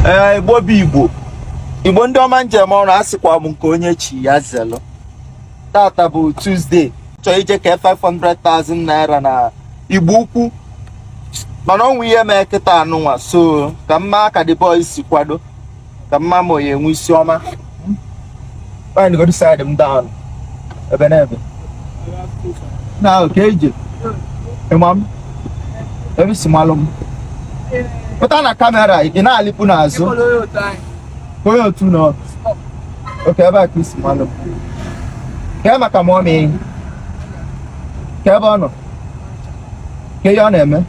ee igbo bụ igbo igbo ndị ọma njem ọrụ a sịkwa m nke onye chi ya zelụ tata bụ Tuesday chọọ ije ke 500,000 naira na igbo ukwu mana o nwe ihe mee kịtaa nụnwa so ka m ma ka the boys si kwado ka m ma ma onye ya-enwe isi ọma Find go to side them down. Ebe na ebe. Na oke ije. Ị ma m. Ebee i si malụ m. Pụta na camera ị na-alịpụ n'azụ. Onye otu nọ. Okay ebe a ka i si malụ m. Kee maka mommy. Kee ebe ọ nọ. Kee ihe ọ na-eme.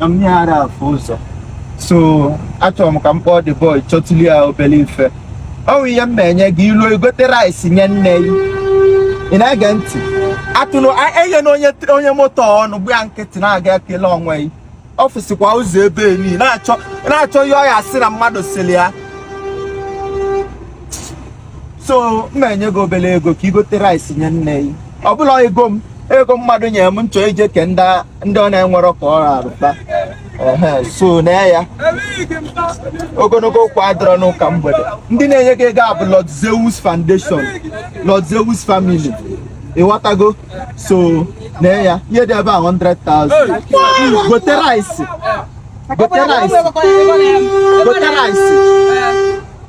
na mma ya ara afụ ụzọ so achọrọ m ka m kpọọ the boy chọtụlụ ya obere ife o nwe ihe m ma-enye gị i luo i gote rice nye nne gị ị na-ege ntị atụrụ enye na onye onye moto ọnụ gba ya nkịtị na-aga ekele onwe gị office kwa ụzọ ebe niile na-achọ ihe ọ ya-asị na mmadụ sịrị ya so m ma-enye gị obere ego ka i gote rice nye nne gị ọ bụrọ ego m ego mmadụ nyere m m chọ ije ke ndị ndị ọ na-enwerọ ka ọ rarụta ehe so na ya ogologo okwu adịrọ n'ụka mgbede ndị na-enye gị ego a bụ Lord Zeus Foundation Lord Zeus Family ịghọtago so na ya ihe dị ebe a 100,000 gote rice gote rice gote rice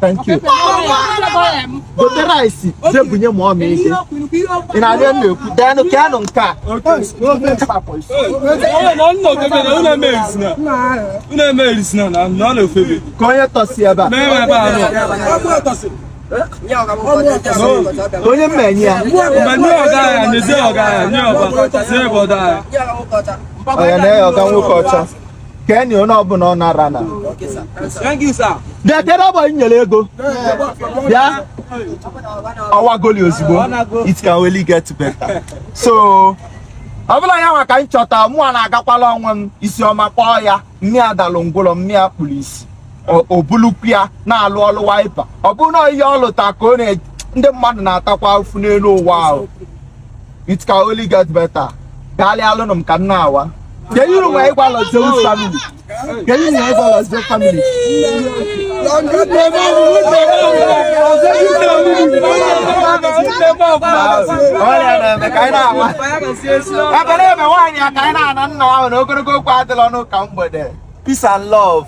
thank you gote rice je bunye mommy ike ị na-arịọ m na-ekwu deenụ ka anụ nke a ka onye tọsi ebe a onye m ma-enye ya onye na-eyi ọga nwoke ọcha kenye onye ọbụla ọ nara na bịa kere ọgbọ nyere ego bịa ọ wagoli ozugbo it can only get better so ọ bụrọ ya nwa ka m chọta mụa na-agakwalụ onwe m isi ọma kpọọ ya mma ya dalụ ngwụlọ mma ya kpulu isi ọ bụlụkwụ ya na-alụ ọlụ wiper ọ bụrụ na ihe ọ lụta ka o rie ndị mmadụ na-atakwa afụfụ n'elu ụwa ahụ it can only get better gbaghalụnụ m ka m na-awa kee ihe i nwere ịgwa Lord Zeus family kee ihe i nwere ịgwa Lord Zeus family ọrịa na-eme ka anyị na-awa ebe na-eme nwaanyị ya ka anyị na-ana ị na-ahụ na ogologo okwu adịrọ n'ụka mgbede peace and love